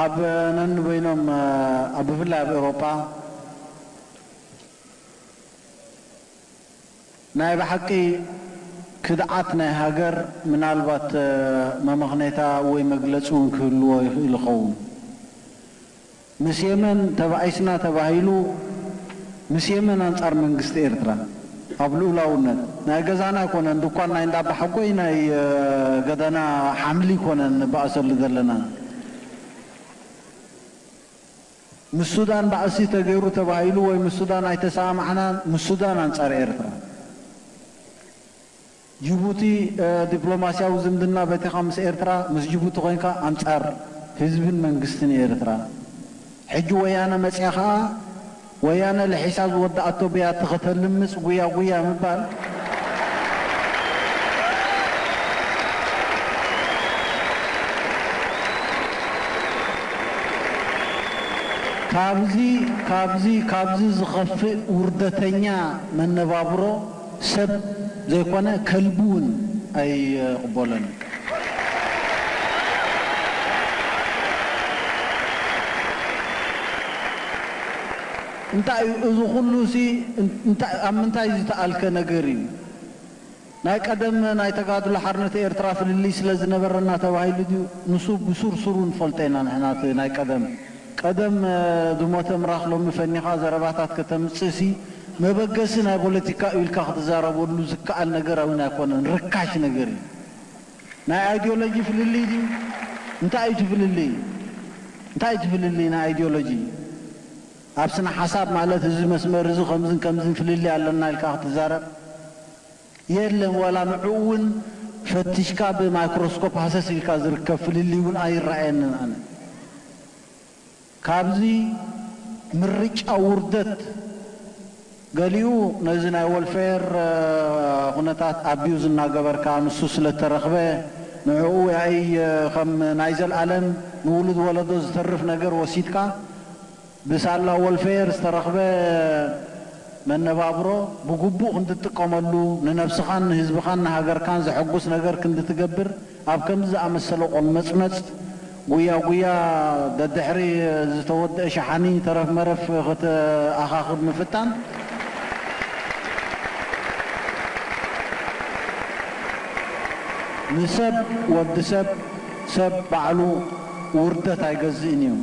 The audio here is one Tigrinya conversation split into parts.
ኣብ ነንበይኖም ኣብ ብፍላይ ኣብ ኤውሮጳ ናይ ብሓቂ ክድዓት ናይ ሃገር ምናልባት መመኽኔታ ወይ መግለጺ ውን ክህልዎ ይኽእል ይኸውን። ምስ የመን ተባኢስና ተባሂሉ ምስ የመን ኣንጻር መንግስቲ ኤርትራ ኣብ ልኡላውነት ናይ ገዛና ኣይኮነን ድኳን ናይ እንዳ ኣባሓጎይ ናይ ገደና ሓምሊ ኮነ ንባኣሰሉ ዘለና ምስ ሱዳን ባእሲ ተገይሩ ተባሂሉ ወይ ምስ ሱዳን ኣይተሳኣማዕናን ምስ ሱዳን ኣንጻር ኤርትራ ጂቡቲ ዲፕሎማሲያዊ ዝምድና በቲኻ ምስ ኤርትራ ምስ ጂቡቲ ኮይንካ ኣንጻር ህዝብን መንግስትን ኤርትራ ሕጂ ወያነ መጽያ ከኣ ወያነ ልሒሳ ዝወደኣቶ ብያቲ ከተልምጽ ጉያ ጉያ ምባል ካብዚ ካብዚ ካብዚ ዝኸፍእ ውርደተኛ መነባብሮ ሰብ ዘይኮነ ከልቢ ውን ኣይቕቦሎን። እንታይ እዩ እዚ ኩሉ ሲ እንታይ ኣብ ምንታይ ዝተኣልከ ነገር እዩ ናይ ቀደም ናይ ተጋድሎ ሓርነት ኤርትራ ፍልልይ ስለ ዝነበረና ተባሂሉ ድዩ ንሱ ብሱር ሱሩ ንፈልጦ ኢና ንሕና እቲ ናይ ቀደም ቀደም ዝሞተ ምራኽ ሎሚ ፈኒኻ ዘረባታት ከተምጽእሲ መበገሲ ናይ ቦለቲካ እዩ ኢልካ ክትዛረበሉ ዝከኣል ነገር ኣውን ኣይኮነን ርካሽ ነገር እዩ ናይ ኣይድዮሎጂ ፍልልይ ድዩ እንታይ እዩ እቲ ፍልልይ እንታይ እዩ እቲ ፍልልይ ናይ ኣይድዮሎጂ ኣብ ስነ ሓሳብ ማለት እዚ መስመር እዚ ከምዝን ከምዝን ፍልልይ ኣለና ኢልካ ክትዛረብ የለን ዋላ ንዕኡ እውን ፈትሽካ ብማይክሮስኮፕ ሃሰስ ኢልካ ዝርከብ ፍልልይ እውን ኣይረኣየንን ኣነ ካብዚ ምርጫ ውርደት ገሊኡ ነዚ ናይ ወልፈየር ኩነታት ኣቢዩዝ እናገበርካ ንሱ ስለ እተረኽበ ንዕኡ ያኢ ከም ናይ ዘልኣለም ንውሉድ ወለዶ ዝተርፍ ነገር ወሲድካ ብሳላ ወልፌየር ዝተረኽበ መነባብሮ ብግቡእ ክንድትጥቀመሉ፣ ንነብስኻን ንህዝብኻን ንሃገርካን ዘሐጉስ ነገር ክንድትገብር ኣብ ከምዚ ዝኣመሰለ ቆልመጽመጽ፣ ጉያ ጉያ፣ ደድሕሪ ዝተወድኣ ሸሓኒ ተረፍ መረፍ ክትኣኻኽብ ምፍታን፣ ንሰብ ወዲ ሰብ ሰብ ባዕሉ ውርደት ኣይገዝእን እዩ።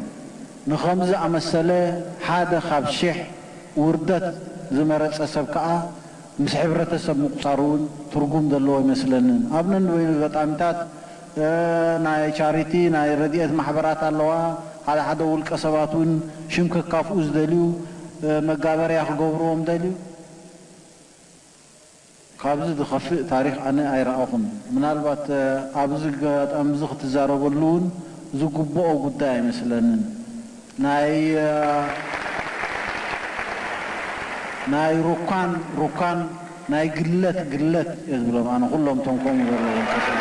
ንኸምዚ ዝኣመሰለ ሓደ ካብ ሽሕ ውርደት ዝመረጸ ሰብ ከኣ ምስ ሕብረተሰብ ምቁጻር እውን ትርጉም ዘለዎ ኣይመስለንን። ኣብ ነንበይኑ ኣጋጣሚታት ናይ ቻሪቲ ናይ ረድኤት ማሕበራት ኣለዋ፣ ሓደ ሓደ ውልቀ ሰባት እውን ሽም ከካፍኡ ዝደልዩ መጋበርያ ክገብርዎም ደልዩ። ካብዚ ዝኸፍእ ታሪኽ ኣነ ኣይረኣኹን። ምናልባት ኣብዚ ኣጋጣሚዚ ክትዛረበሉ ውን ዝግብኦ ጉዳይ ኣይመስለንን። ናይ ናይ ሩካን ሩካን ናይ ግለት ግለት እየ ዝብሎም ኣነ ኩሎም እቶም ከምኡ ዘለዎም ተስዕብ።